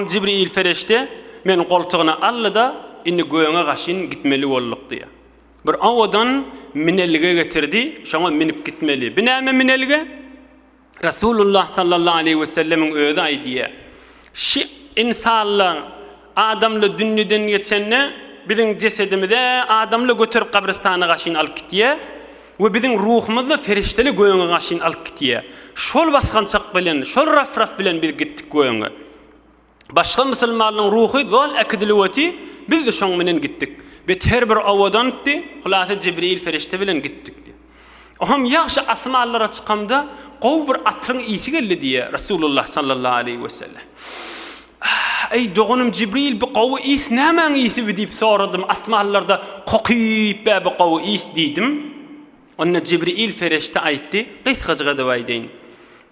Jibril perişde meni goltugyna aldy-da, Indi gögňe gaşyn gitmeli bolduk diýýär. Bir owadan minelge getirdi, şoňa minip gitmeli. Bu näme minelge? Resulullah sallallahu aleýhi we sellemiň özi aýdýar, Şi ynsanlar adamly dünýeden geçende, biziň jesedimizi adamly göterip gabrystana gaşyn alyp gitýär. We biziň ruhumyzda ferişteli gögüňe gaşyn alyp gitýär. Şol basgançak bilen, şol raf-raf bilen biz gitdik gögüňe. Başga musulmanlaryň ruhy dol äkidiliweti, biz-de şoň bilen gitdik. Bet her bir owadantdy, hulasa Jibril ferişte bilen gitdik diýýär. Oňam ýagşy asmanlara çykamda gowy bir atryň ysy geldi diýýär Resulullah sallallahu aleýhi wesellem. Eý, doganym Jibril, bu gowy ys nämäň ysyby? diýip soradym. Asmanlarda kokyp bäbi gowy ys diýdim. Onda Jibril perişde aýtdy, Gysgajyk edip aýdaýyn.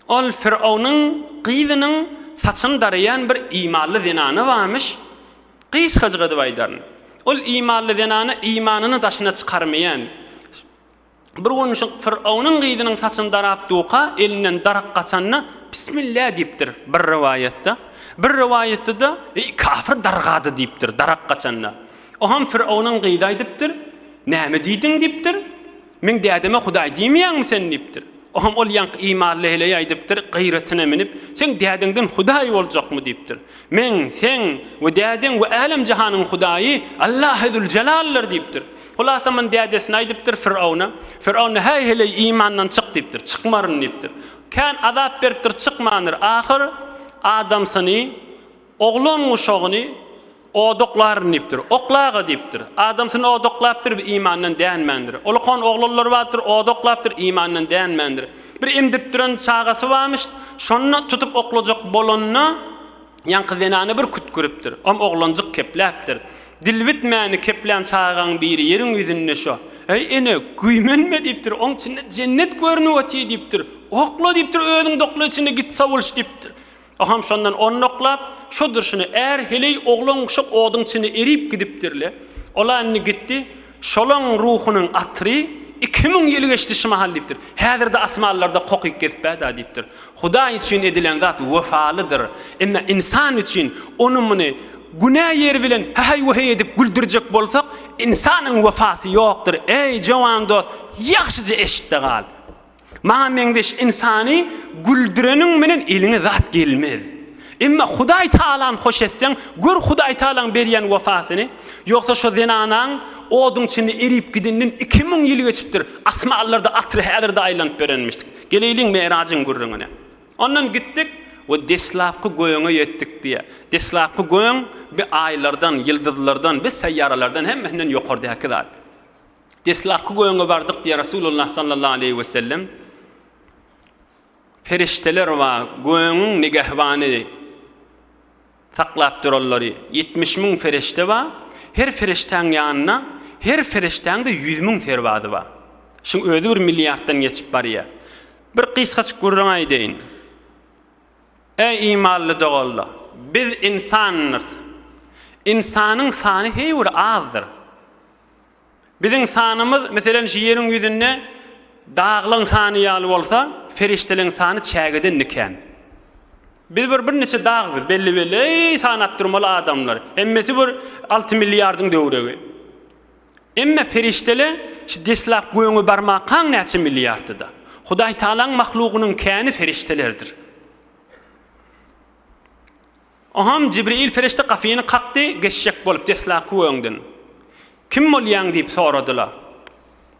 Ol Fironuň gyzynyň saçyny daraýan bir imanly zenany barmyş, gysgajyk edip aýdaryn. Ol imanly zenana imanyny daşyna çykarmaýan. Bir gün Fyraunyň gyzynyň saçyny darap duka elinden darak gaçanda Bismillah diýipdir, bir rowaýatda. Bir rowaýatda-da Eý kafir dargady diýipdir, darak gaçanda. Oham Fyraunyň gyzy aýdypdyr, Näme diýdiň diýipdir, Meň dädeme Hudaý diýmeýäňmi sen diýipdir. Oham ol ýaňky imanly heleý aýdypdyr, gyratyna minip, Seň dädeňden Hudaý boljakmy diýipdir. Men, sen we dädeň we älem-jahanyň Hudaýy Allahy Züljelaldyr diýipdir. Hulasaman dädesine aýdypdyr, Firawna. Firawna, Häý, heleý, imandan çyk diýipdir. Çykmaryn diýipdir. Kän azap beripdir, çykmandyr. Ahyr adamsyny, oglan guşagyny odaklaryn diýipdir. Okla-ga diýipdir. Adamsyny odaklapdyr, imandan dänmändir. Ulkan oglanlary bardyr, odaklapdyr, imandan dänmändir. Bir emdirip duran çagasy barmyş, şony tutup oklajak bolanyna ýaňky zenana bir kütküripdir. Om oglanjyk kepläpdir. Dil bitmäni keplän çagaň biri ýeriň ýüzünde şo. Äý ene, güýmenme diýipdir, oň içinde jennet görnüp otyr diýipdir. Okla diýipdir, özüň dokla içinde git sowulyş diýipdir. O hem şondan ondaklap, şo durşuna är heleý oglan guşak oduň içinde erip gidipdir-le, ol-a indi gitdi, şolaň ruhunyň atyry iki müň ýyl geçdi şu mahal diýipdir. Häzir-de asmanlarda kokyk gezip bä-da diýipdir. Hudaý üçin edilen zat wepalydyr. Emma ynsan üçin, ony-muny, günä ýeri bilen häheý-wäheý edip güldürjek bolsak, ynsanyň wepasy ýokdur. Eý, jowan dost, ýagşyja eşit-de gal! Maňa meňzeş ynsany güldüreniň bilen eliňe zat gelmez. Emma Hudaý Talan hoş etseň, gör Hudaý Talaň berýän wepasyny. Ýogsa şo zenanaň oduň içinde erip gideninden iki müň ýyl geçipdir. Asmanlarda atyr häzirde aýlanyp berenmişdik. Geleýliň Merajyň gürrüňine. Ondan gitdik we deslapky gögöňe ýetdik diýýär. Deslapky gögöň bi aýlardan, ýyldyzlardan, bi seýýaralardan hemmesinden ýokardaky zat. Deslapky göwne bardyk diýýär Resulullah sallallahu aleýhi wesellem, Perişdeler we göwnüň nigehbany, saklap duranlary, ýetmiş müň perişde bar, her perişdäň ýanynda, her perişdäň-de ýüz müň serbazy bar. Şuň özi bir milliarddan geçip barýar. Bir gysgajyk gürrüň aýdaýyn. Eý imanly doganlar! Biz ynsandyrys. Ynsanyň sany heý bir azdyr. Biziň sanymyz, meselem, şu ýeriň ýüzünde daglaň sany ýaly bolsa, perişdeleň sany çägedende kän. Biz bir birniçe dag biz, belli-belli, eý, sanap durmaly adamlar. Hemmesi bir alty milliardyň döwregi. Emme perişdele şu deslap göňe barmakaň näçe milliardyda. Hudaýtagalaň mahlugynyň käni perişdelerdir. Onham Jibril perişde gapyny kakdy, geçjek bolup deslapky öňden, Kim bolýaň? diýip soradylar.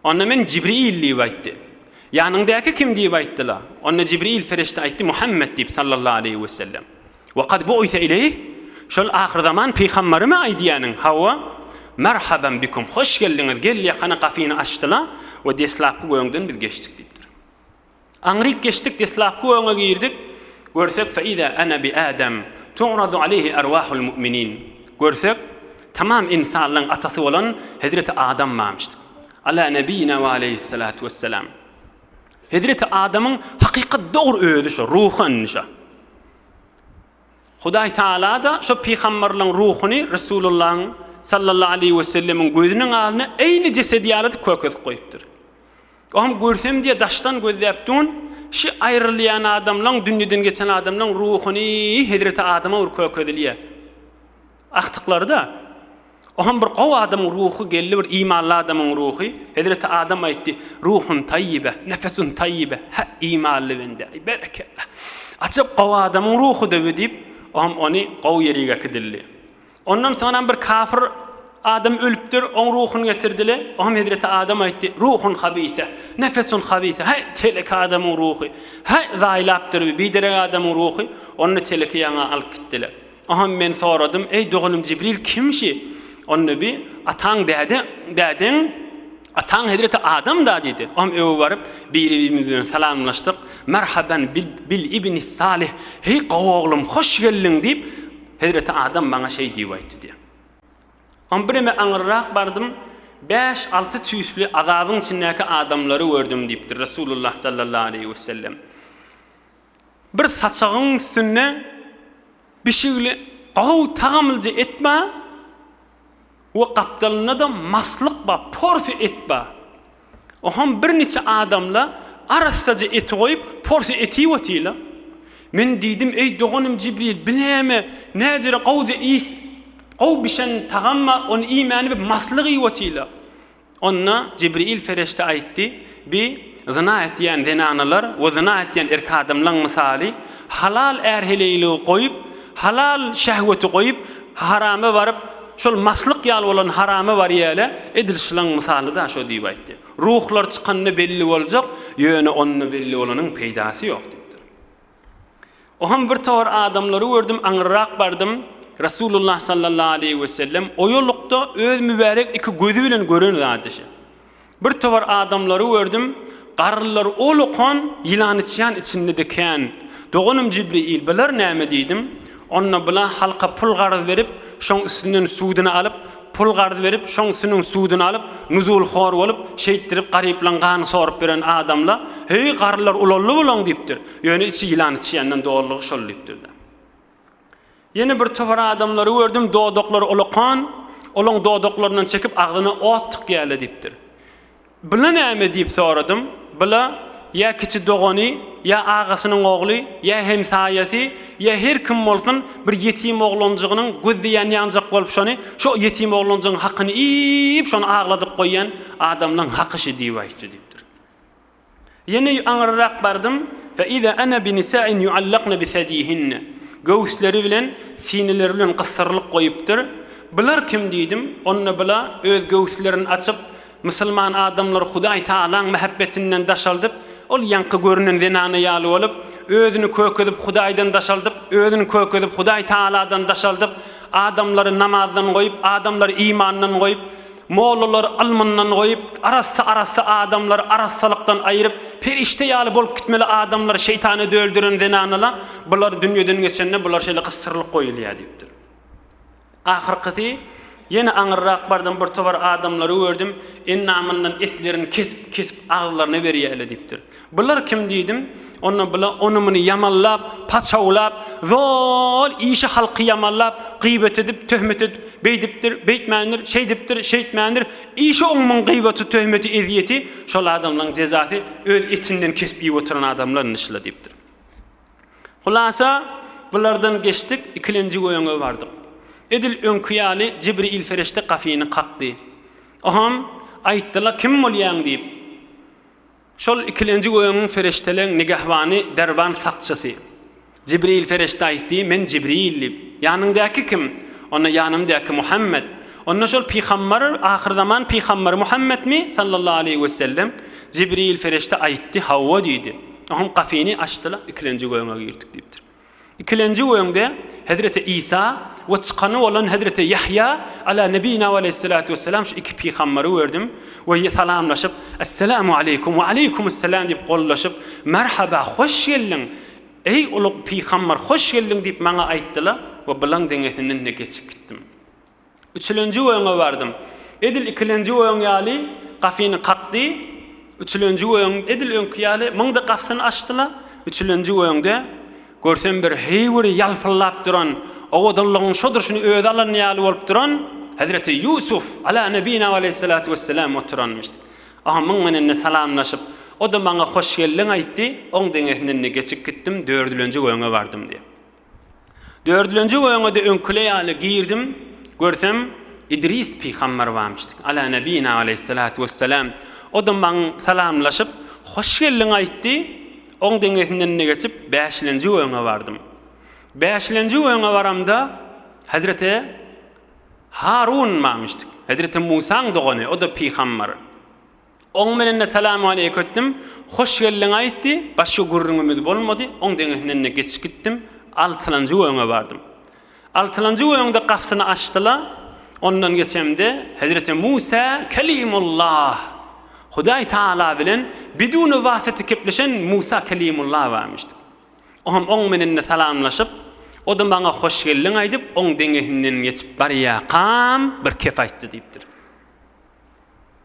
Onda men Jibril diýip aýtdy. Ýanyňdaky kim diýip aýtdylar. Onda Jibril perişde aýtdy, Muhammet diýip sallallahu aleýhi wesellem. Wa kad bu'ise ileýh, şol ahyrzaman pygambarymy aýdýanyň? Hawa, Merhaban bikum, hoş geldiňiz, gel ýakana gapyny açdylar we deslapky öňden biz geçdik diýipdir. Aňryk geçdik deslapky öňe girdik görsek feiza ana bi adam tu'radu aleyhi arwahul mu'minin görsek tamam insanlaň atasy bolan hezreti adam barmyşdyk ala nebiyina we aleyhissalatu wessalam hezreti adamyň hakykat dogry özi şo ruhy indi şo Hudaý taala da şo pygamberliň ruhuny Resulullahyň sallallahu aleyhi wesellemiň gözüniň alny eýni jesedi ýaly edip kökezip goýupdyr Oňam görsem diýe daşdan gözläp dun şi aýrylýan adamlaň dünyden geçen adamlaň ruhuny hezreti adama bir kökezilýä aktyklarda oňam bir gowy adamyň ruhy geldi bir imanly adamyň ruhy hezreti adam aýtdy ruhun taýýibe nefesun taýýibe hä imanly bende aý berekella ajap gowy adamyň ruhy da diýip oňam ony gowy ýerige kidildi Ondan soňam bir kafyr adam ölüpdir, oň ruhuny getirdiler. Oňam hezreti Adam aýtdy, Ruhun habise, nefesun habise, heý, telek adamyň ruhy, heý, zaýlapdyr bi, biderek adamyň ruhy, ony teleki ýaňa alyp gitdiler. Oňam men soradym, Eý, doganym Jibril, kim şi? Onda bi, Ataň däde, dädeň Ataň hezreti Adam-da diýdi. Oňa öe baryp, biri-birimiz bilen salamlaşdyk. Merhaban bil ibni Salih, heý gowy oglum, hoş geldiň diýip, hezreti Adam maňa şeý diýip aýtdy diýýär. Oňa birneme aňyrrak bardym, bäş-alty tüýsli azabyň içindäki adamlary gördüm diýipdir Resulullah sallallahu aleýhi wesellem. Bir saçagyň üstünde bişigli gowy tagamlyja et bar we gapdalynda-da maslyk bar, porsiýa et bar. Oňam birniçe adamlar arassaja eti goýup, porsiýa et iýip otyrlar. Men diýdim, Eý, doganym Jibril, bi näme? Näzire gowja iýs, gowy bişen tagam bar, ony iýmäni bi maslyk iýip otyrlar. Onda Jibril Ferişde aýtdy, Bi, zyna etýän zenanalar we zyna etýän erk adamlaň mysaly, halal är-heleýligi goýup, halal şehweti goýup, harama baryp, şol maslyk ýaly bolan harama barýaly, edil şlaň mysalyda şo diýip aýtdy. Ruhlar çykanda belli boljak, ýöne onda belli bolanyň peýdasy ýok diýipdir. Oham bir tor adamlary gördüm, aňyrrak bardym, Resulullah sallallahu aleýhi we sellem oýalykda öz mübärek iki gözi bilen gören zady şe. Bir tor adamlary gördüm, garrylar ol okan ýylany çyan içinde dikän. Doganym Jibriýil, bular näme diýdim. Onda bula halka pul garz berip, şoň üstünden sudyny alyp, Pul garz berip, şoň süniň suduny alyp, nuzulhor bolup, şeýtdirip garyplaň gany sorup beren adamla, Heý, garrylar ulaldy bulaň diýipdir. Ýöne içi ýylan içýänden doldugy şol diýipdir-de. Ýene bir topar adamlary gördüm, dodaklary olakan, olaň dodaklaryndan çekip agzyna ot tykýaly diýipdir. Bila näme? diýip soradym. Bila, ýa kiçi dogany, ýa agasynyň ogly, ýa hemsaýasy, ýa her kim bolsun, bir ýetim oglanjygynyň gözde ýanýanjak bolup şony, şo ýetim oglanjygyň hakyny iýip, şony agladyp goýýan adamlaň haky şu diýip aýtdy, diýipdir. Ýene aňyrrak bardym, fe iza ana bi nisa'in yu'allakna bi sediyihinne, göwüsleri bilen, sineleri bilen gyssyrylyp goýupdyr. Bular kim diýdim, onda bula öz göwüslerini açyp, musulman adamlary Hudaý Tagalaň mähebbetinden daşaldyp, ol ýaňky görünen zenana ýaly bolup, özüni kökezip Hudaýdan daşaldyp, özüni kökezip Hudaý Tagaladan daşaldyp, adamlary namazdan goýup, adamlary imandan goýup, Mollalar ylmyndan goýup, arassa-arassa adamlary arassalykdan aýryp, perişde ýaly bolup gitmeli adamlar şeýtana döldüren zenanala bular dünýeden geçende bular şeýle gysdyrylyp goýulýar diýipdir. Ahyrkysy ýene aňyrrak bardym bir towar adamlary gördüm, endamyndan etlerini kesip-kesip agzylaryna berýärler diýipdir. Bular kim diýdim. Onda bula ony-muny ýamanlap, paçawlap, zol işi halky ýamanlap, gyýbat edip, töhmet edip, beýdipdir, beýtmändir, şeýdipdir, şeýtmändir, işi oňmuň gyýbaty, töhmeti, ezýeti, şol adamlaň jezasy öz etinden kesip iýip oturan adamlar indi şyla diýipdir. Hulasa, bulardan geçdik, ikilenjik öýüňe bardyk. Edil öňki ýaly Jibriýil ferişde gafyny kakdy. Oham, aýtdy-la kim bolýaň diýip. Şol ikilenji gögüň perişdeleň nigehbany, derwan sakçysy. Jibril perişde aýtdy, Men Jibril diýip. Ýanyňdaky kim? Onda ýanymdaky Muhammet. Onda şol pygambar, ahyrzaman pygambary Muhammetmi? Sallallahu aleýhi we sellem. Jibril perişde aýtdy, Hawa diýdi. Oňam gapyny açdylar, ikilenji gögüňe girdik diýipdir. Ikilenji öňde Hezreti Isa we çykany bolan Hezreti Ýahýa Ala Nebina we Aleýhissalatu Wessalam şu iki pygamberi gördüm we salamlaşyp, Esselamu Aleýkum we Aleýkumusselam diýip gollaşyp, Merhaba, hoş geldiň, eý ulug pygamber, hoş geldiň diýip maňa aýtdylar we bulaň deňesinden-de geçip gitdim. Üçülenji öýüňe bardym. Edil ikilenji öýüň ýaly gafyny kakdy. Üçülenji öýüň edil öňki ýaly myňda gafsyny açdy-la, üçülenji öýüňde, görsem bir heýwiri ýalpyldap duran, owadanlygyň şo durşuny özi alan ýaly bolup duran Hezreti Ýusuf, ala nebina we aleyhissalatu wesselam, oturanmyşdy. Oňa myň menende salamlaşyp, o-da maňa hoş geldiň aýtdy, oň deňesinden-de geçip gitdim, dördülenji öýüňe bardym diýýär. Dördülenji oýuna-da öňküler ýaly girdim, görsem, Idris pygamber barmyşdy, Ala nebina aleýhissalatu wessalam. O-da maňa salamlaşyp, hoş geldiň aýtdy. Oň deňesinden-de geçip, bäşilenji oýuna bardym. Bäşilenji oýuna baramda, hezreti Harun barmyşdy, hezreti Musaň dogany, o-da pygamber. Oň menende salam aleýk ötdüm. Hoş geldiň aýtdy. Başga gürrüňimiz bolmady. Oň deňesinden-de geçip gitdim. Altylanjy göwňe bardym. Altylanjy göwňde gapysyny açdy-la, ondan geçemde, Hezreti Musa Kelimullah, Hudaý Tagala bilen biduni wasyty kepleşen Musa Kelimullah barmyşdy. Oňam oň menende salamlaşyp, o-da maňa hoş geldiň aýdyp, oň deňesinden geçip barýakam bir kep aýtdy diýipdir.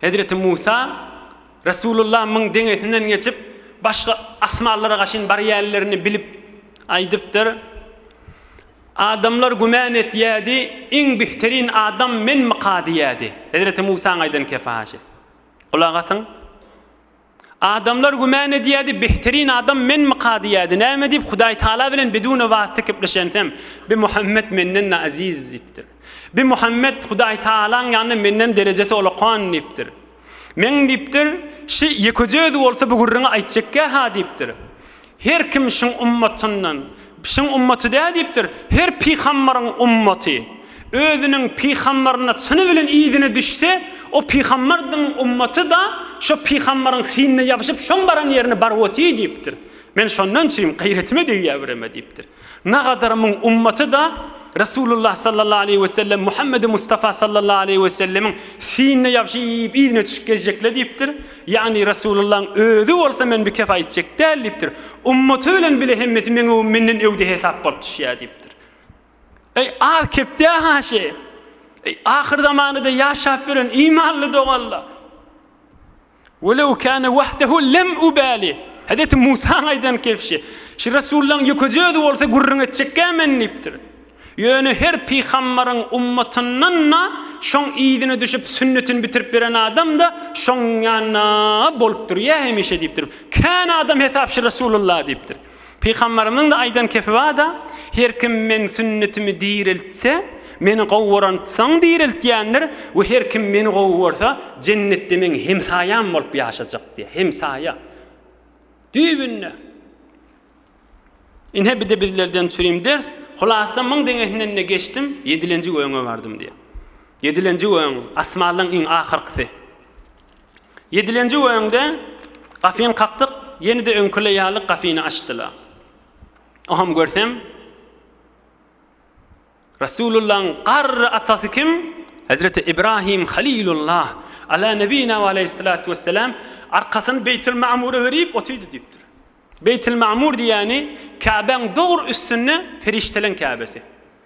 Hezreti Musa, Resulullah muň deňesinden geçip, başga asmanlara gaşyn barýärlerini bilip aýdypdyr. Adamlar güman etýärdi, iň bihterin adam menmika diýýärdi. Hezreti Musaň aýdan kefaşy. Gulak asyň! Adamlar güman edýärdi, Behterin adam menmika diýýärdi. Näme diýip, Hudaýtagala bilen biduna wasta kepleşensem, Bi Muhammet menden-de aziz diýipdir. Bi Muhammet Hudaýtagalaň ýanynda menden derejesi olakan diýipdir. Meň diýipdir, şi ýekeje özi bolsa bu gürrüňi aýtjakýa-ha diýipdir. Her kim şyň ummatyndan, şyň ummaty dä diýipdir, her pygambaryň ummaty, özüniň pygambaryna çyny bilen yzyna düşse, o pygambardyň ummaty-da şo pygambaryň synna ýapyşyp, şoň baran ýerine baryp otyr diýipdir. Men şondan çyn, gaýretime degýär bireme diýipdir. Nagadar muň ummaty-da Resulullah sallallahu aleýhi we sellem, Muhammedi Mustafa sallallahu aleýhi we sellemiň sinine ýabşyp yzyna çyşyp gezjekle diýipdir. Ýagny Resulullaň özi bolsa men bikep aýtjak däl diýipdir. Ummaty bilen bile hemmesi meň öwüm menden öwde hesap bolup düşýär diýipdir. Eý az kepdä haşy. Eý ahyr zamanada ýaşap ýören imanly doganla. Welew kâne wahdehu lem ubâli. Hezreti Musaň aýdan kebşi, Şu resullaň ýekeje özi bolsa gürrüň etjekkä men diýipdir. Ýöne her pygambaryň ummatyndan-da şoň yzyna düşüp sünnetini bitirip beren adam-da şoň ýanynda bolupdyr ýa hemişe diýipdir. Kän adam hesap şu resulullah diýipdir. Pygamberimiziň-de aýdan kepi bar-da, Her kim meň sünnetimi direltse, meni gowy görensoň direltýändir we her kim meni gowy görse, jennetde meň hemsaýam bolup ýaşajak diýýär. Hemsaýa. Düýbünde. Ine, bir-de bizlerden çürim ders. Hulasa, müň deňesinden-de geçdim, ýedilenji gögüňe bardym diýýär. Ýedilenji gögüň, asmanlaryň iň ahyrkysy. Ýedilenji öňde gafyny kakdyk, ýene-de öňküler ýaly gafyny açdylar. Oňam görsem, Resulullahyň garry atasy kim? Hezreti Ibrahim Halilullah, Ala nebina we aleýhissalatu wessalam, arkasyny Beýtilmamura berip otyrdy diýipdir. Beýtilmamur diýýäni Käbäň dogry üstünde perişdeleň Käbesi.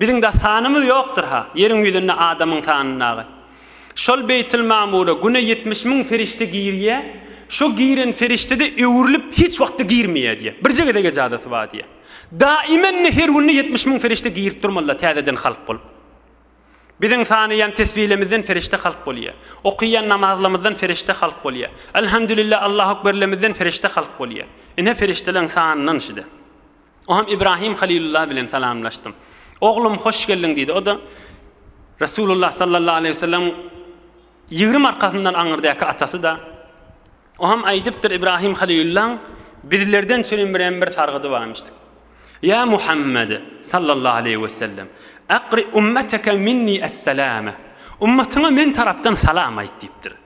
Biziň-de sanymyz ýokdur-ha, ýeriň ýüzünde adamyň sanyndagy. Şol Beýtilmamura güne ýetmiş müň perişde girýä, şo giren perişde-de öwrülip hiç wagtda girmeýä diýä. Birje gezeg ejazasy bar diýä. Daimende her günde ýetmiş müň perişde girip durmaly-la täzeden halk bolup. Biziň sanaýan tesbilemizden perişde halk bolýa. Okaýan namazlarymyzdan perişde halk bolýa. Elhamdülillah, Allahu ekberlemizden perişde halk bolýa. Ine perişdeleriň sanyndan şide. Oňam Ibrahim Halilulla bilen salamlaşdym. Oglum, hoş geldiň diýdi. O-da Resulullah sallallahu aleýhi we sellemiň ýigrimi arkasyndan aňyrdäki atasy-da. Oňam aýdypdyr Ibrahim Halilullaň bizlerden çürin birem bir sargydy barmyşdyk. Ýa Muhammed sallallahu aleýhi we sellem, akri ummeteke minni es-selame. Ummatyňa men tarapdan salam aýt diýipdir.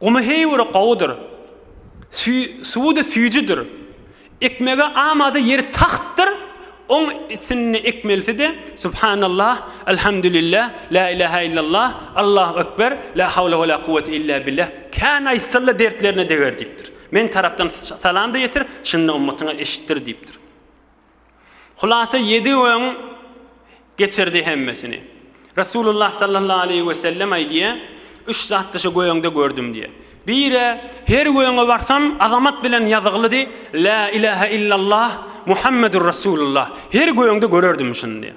Gumy heýwiri gowudyr. Suwudy süýjüdir. Ekmege amada ýeri tagtdyr. Oň içinde ekmelisi-de, Subhanallah, Elhamdülillah, Lä ilähä illallah, Allahu ekber, Lä hawle we lä kuwwete illa billah, Kän aýtsalla dertlerine deger diýipdir. Meň tarapdan salam-da ýetir, şunda ummatyňa eşitdir diýipdir. Hulasa ýedi gün geçirdi hemmesini. Resulullah sallallahu aleýhi we sellem aýdýar, Üç zatda şu göýeňde gördüm diýýär. Biri, her göýeňe barsam azamat bilen ýazyglydy, Lä ilahe illallah, Muhammedur Resulullah. Her göýeňde görerdim şuny diýýär.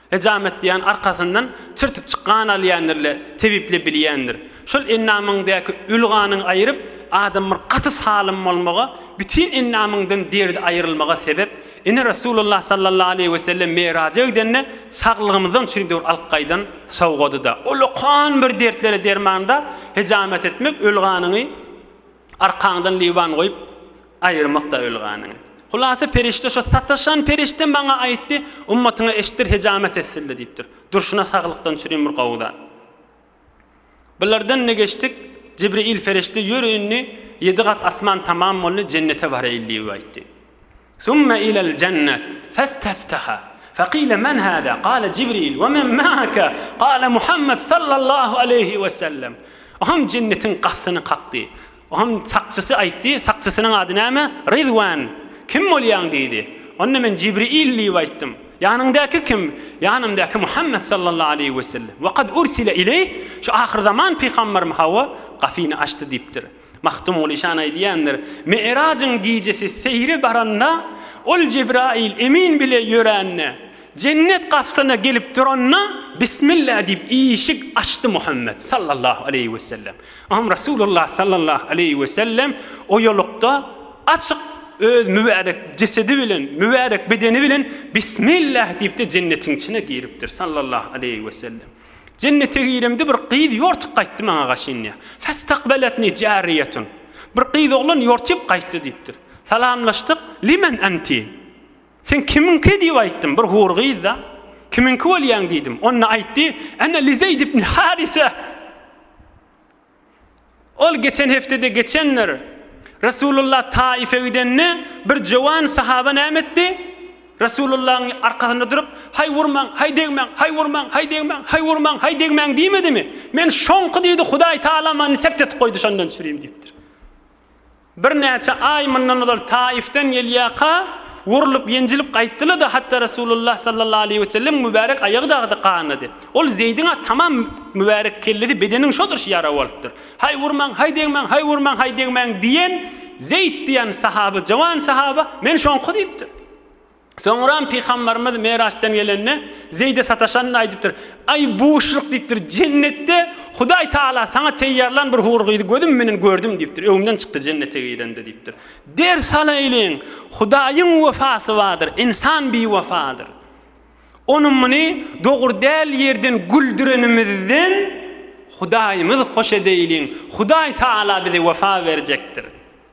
Hejamet diýýän arkasyndan çyrtyp çykgan alýandyr-le, tebiple bilýändir. Şol endamyňdaky öli ganyň aýryp, adam bir gaty salym bolmaga, bütin endamyňdan derdi aýrylmaga sebep. Ine Resulullah sallallahu aleýhi wesellem Meraja gidende saglygymyzdan çüýdügir alyp gaýdan sowgady-da. Olakan bir dertlere derman-da, hejamet etmek öli ganyňy. Arkaňdan liwan goýup, aýyrmak-da öl ganyň. Hulasa perişde şo sataşan perişde maňa aýtdy, Ummatyňa eşitdir hejamet etsildi diýipdir. Durşuna saglykdan çürim bir gowy zat. Bulardan-da geçdik, Jibriýil ferişde ýör indi, ýedi gat asman tamam boldy, jennete baraýyl diýip aýtdy. Summe ilel jennet festefteha fekile men hada kale Jibril ve men maake kale Muhammed sallallahu aleyhi ve sellem Ohan jennetiň gapsyny kakdy. Ohan sakçysy aýtdy, sakçysynyň ady näme? Ridwan. Kim bolýaň diýdi. Onda men Jibril diýip aýtdym. Ýanyňdaky kim? Ýanymdaky Muhammed sallallahu aleyhi ve sellem. Ve kad ursile ileyh şu ahyrzaman pygamberm hawa gapyny açdy diýipdir. Magtymguly şa naý diýendir, Mi'rajyň gijesi seýre baranda, Ol Jebraýyl emin bile ýörände, Jennet gapysyna gelip duranda, Bismillah diýip işik açdy Muhammet, sallallahu aleýhi we sellem. Ynham Resulullah, sallallahu aleýhi we sellem, oýalykda açyk öz mübärek jesedi bilen, mübärek bedeni bilen Bismillah diýip-de jennetiň içine giripdir, sallallahu aleýhi we sellem. Jennete giremde bir gyz ýortup gaýtdy maňa gaşynýa. Festakbeletni jariýetun. Bir gyz oglan ýortyp gaýtdy diýipdir. Salamlaşdyk, Limen enti? Sen kimiňki diýip aýtdym, bir hur gyz-da. Kimiňki bolýaň diýdim. Onda aýtdy, Ene li Zeýd ibn Harise. Ol geçen hepdede geçendir. Resulullah Taýyfe gidende, bir jowan sahaba näme etdi? Resulullahyň arkasynda durup, Haý urmaň, haý degmäň, haý urmaň, haý degmäň, haý urmaň, haý degmäň diýmedimi? Men şoňky diýdi, Hudaý Tagala many sept etip goýdy, şondan çürim diýipdir. Birnäçe aý mundan ozal Taifden gelýärka, urlup, ýenjilip gaýtdylar-da, hatda Resulullah sallallahu aleýhi wesellemiň mübärek aýagy dagy gandady. Ol Zeýdiň-ä tamam mübärek kellesi, bedeniň şodurşy ýara bolupdyr. Haý, urmaň, haý degmäň, haý, urmaň, haý degmäň diýen Zeýt diýen sahaba, jowan sahaba, Men şoňky diýipdir. Soňram Pygamberimiz Meraçdan gelende, Zeýde sataşanyny aýdypdyr. Aý, buşluk diýipdir, Jennetde Hudaý Tagala saňa teýýarlan bir hur gyzy gözüm menen gördüm diýipdir. Öňümden çykdy Jennete girende diýipdir. Der salaýlyň, Hudaýyň wefasy bardyr, ynsan biwefadyr. Ony muny dogry däl ýerden güldürenimizden Hudaýymyz hoş edeýliň, Hudaý Tagala bize wefa berjekdir.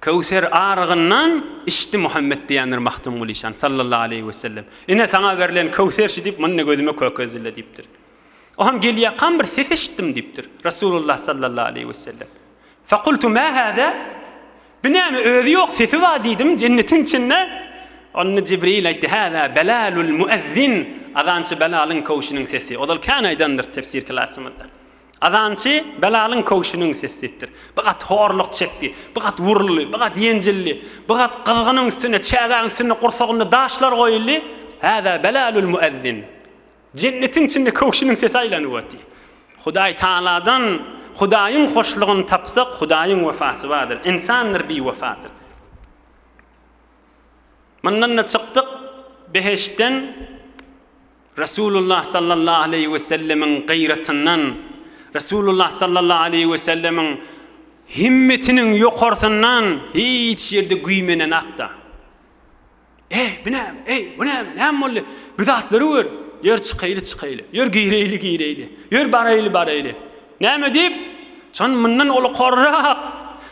Köwser arygyndan içdi Muhammet diýendir Magtymguly şan, sallallahu aleýhi wesellem. Ine, saňa berlen köwser şu diýip, muny gözüme kökezdile diýipdir. O hem gelýäkam bir ses eşitdim diýipdir, Resulullah, sallallahu aleýhi wesellem. Fekultu, mä hada? Bu näme, özi ýok, sesi bar diýdim, jennetiň içinde. Onda Jibril aýtdy, Hada Belalul muezzin, azançy Belalyň köwşüniň sesi. Ozal kän aýdandyr tefsir klasymyzda. Azançy Belalyň köwşüniň sesi diýipdir. Bir gat horluk çekdi. Bir gat wuruldy. Bir gat ýenjildi. Bir gat gyzgynyň üstüne, çägäň üstüne gursagynda daşlar goýuldy. Häzä Belalul müezzin. Jennetiň içinde köwşüniň sesi aýlanyp otdy. Hudaý Tagaladan Hudaýyň hoşlugyny tapsak, Hudaýyň wepasy bardyr. Ynsandyr biwepadyr. Mundan-da çykdyk, behiştden. Resulullah sallallahu aleýhi we sellemiň gyratyndan, Resulullah sallallahu aleýhi we sellemiň himmetiniň ýokarsyndan hiç ýerde güýmenen atda, Eý, bu näme? Eý, bu näme? Näme boldy? Bu zatlary gör! Ýör, çykaýly, çykaýly. Ýör, gireýli, gireýli. Ýör, baraýly, baraýly. Näme diýip, şon mundan ulukorrak,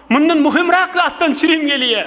mundan möhümräk zatdan çirim gelýär.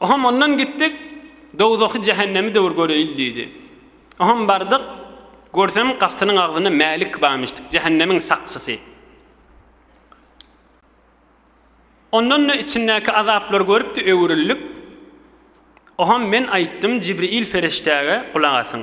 Oham ondan gitdik, dowzahy, jähennemi döwür göreýil diýdi. Oham bardyk, görsem gapsynyň agzynda Mälik bamişdik, jähennemiň sakçysy. Ondan-da içindäki azaplary görüpdi, öwrülip, Oham men aýtdym Jibriýil ferişdäge, gulak asyň.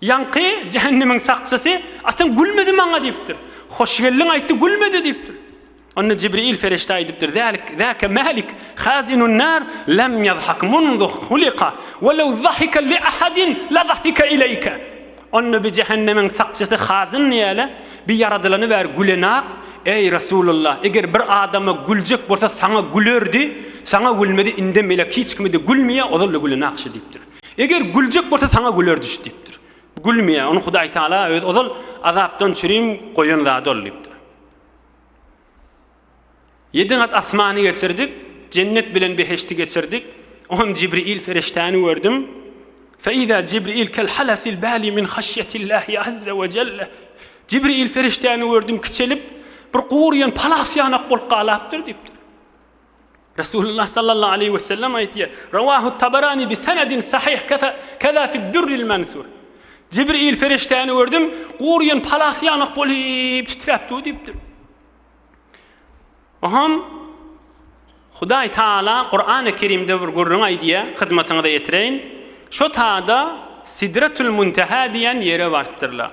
Ýaňky jähennemiň sakçysy, Atam gülmedi maňa diýipdir. Hoş geldiň aýtdy, gülmedi diýipdir. Onda Jibril perişde aýdypdyr, Zalik, zaka Malik, hazinun nar, lem ýazhak munzu huliqa, we lew zahika li ahadin la zahika ileýke. Onda bi jähennemiň sakçysy hazyn ýaly, bi ýaradylany bäri gülenak, Eý, Resulullah, eger bir adama güljek bolsa, saňa gülerdi, saňa gülmedi, indem elek hiç kime-de gülmeýär, ozal-da gülenak şu diýipdir. Eger güljek bolsa saňa güler düş diýipdir. Gülmeýär. Ony Hudaý Taala öz ozal azapdan çürim goýan zady ol diýipdir. Ýedi gat asmany geçirdik, jennet bilen beheşti geçirdik. Oňam Jibril ferişdäni gördüm. Feiza Jibril kel halasil bali min haşyetillahi azza we jelle. Jibril ferişdäni gördüm kiçelip, bir gurýan palas ýanak bolup galapdyr diýipdir. Resulullah sallallahu aleýhi we sellem aýtýar, Rawahu Tabarani bi senedin sahyh keza fid Dürril Mansur. Jibril perişdäni gördüm, guryýan palas ýanak bolup titräp dur diýipdir. Oham Hudaý Taala Kurany Kerimde bir gürrüň aýdýar, hyzmatyňyza ýetireýin. Şo taýda Sidretul Muntaha diýen ýere barypdyrlar.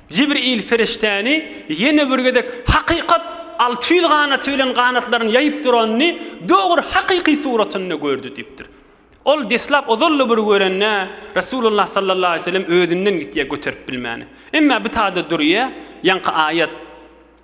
Jibril perişdäni ýene bir gezek hakykat alty ýüz ganaty bilen ganatlaryny ýaýyp duranyny dogry hakyky suratynda gördi diýipdir. Ol deslap ozal-da bir görende, Resulullah sallallahu aleýhi we sellem özünden gitýär göterip bilmäni. Emma bitada durýar, ýaňky aýat.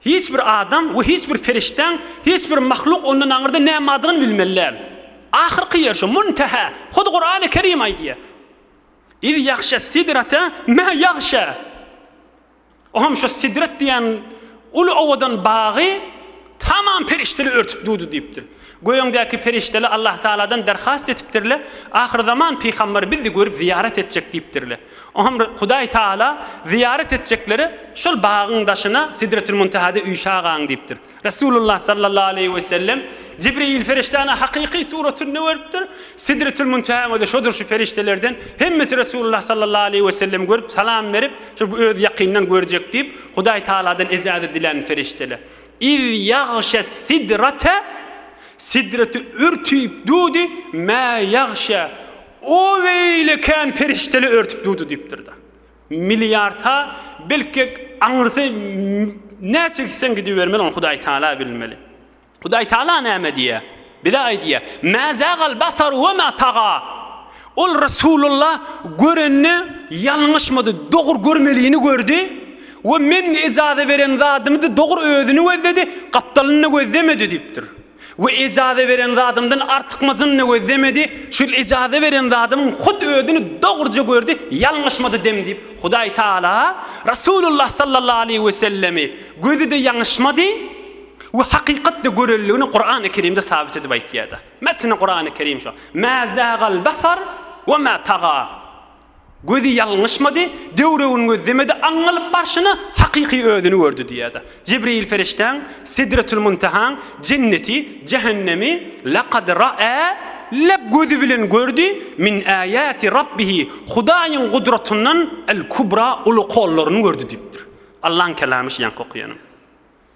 Hiç bir adam we hiç bir perişdäň, hiç bir mahluk ondan aňyrda näme bardygyny bilmeli däl. Ahyrky ýer şu, Muntähä. Hut Kurany Kerim aýdýar. Iz ýagşa sidrata mä ýagşa. O hem şu sidrat diýen uly owadan bagy tamam perişdeler örtüp durdy diýipdir. Göýeňdäki perişdeler Allahtagaladan derhast etipdirler, Ahyrzaman pygamberi bizi görüp zyýarat etjek diýipdirler. Oňa Hudaý Taala zyýarat etjeklere şol bagyň daşyna Sidretül-Muntahada üýşä gaň diýipdir. Resulullah sallallahu aleýhi we sellem Jibril perişdäni hakyky suratynda görüpdir. Sidretül-Muntahanyň özi şodur şu perişdelerden hemmesi Resulullah sallallahu aleýhi we sellemi görüp salam berip, şu bu özi ýakyndan görjek diýip, Hudaý Taaladan ejazat diländir perişdeler. Iz ýagşes-sidrate Sidreti örtüp durdy, mä ýagşe O beýle kän perişdeli örtüp durdy diýipdir-de. Milliarta belki aňyrsy näçe gitseň gidibermeli, ony Hudaý Tala bilmeli. Hudaý Tala näme diýýär? Bize aýdýar, Mä zagal basar we mä taga. Ol Resulullah görenini ýalňyşmady, dogry görmelini gördi we Men ejaza beren zadymy-da dogry özüni gözledi, gapdalyny-da gözlemedi diýipdir. We ejaza beren zadymdan artykmajyny gözlemedi, şul ejaza beren zadymyň hut özüni dogruja gördi, ýalňyşmady dem diýip, Hudaý Tagala Rasulullah sallallahu aleýhi wesellemi gözi-de ýaňyşmady we hakykatda görenligini Kurany Kerimde sabyt edip aýtýarda. Metni Kurany Kerim şo. Mä zagal basar we mä taga. Gözi ýalňyşmady, döwrebini gözlemedi, aňňalyp barşyna hakyky özüni gördi diýýär-de. Jibreýil perişdäň, Sidretül-Muntehaň, Jenneti, Jähennemi, Lakad ra'a, leb gözi bilen gördi, min âýâti Rabbihi, Hudaýyň gudratyndan, el-Kubra, uly kollaryny gördi diýipdir. Allaň Kelamy şu ýaňky okaýanym.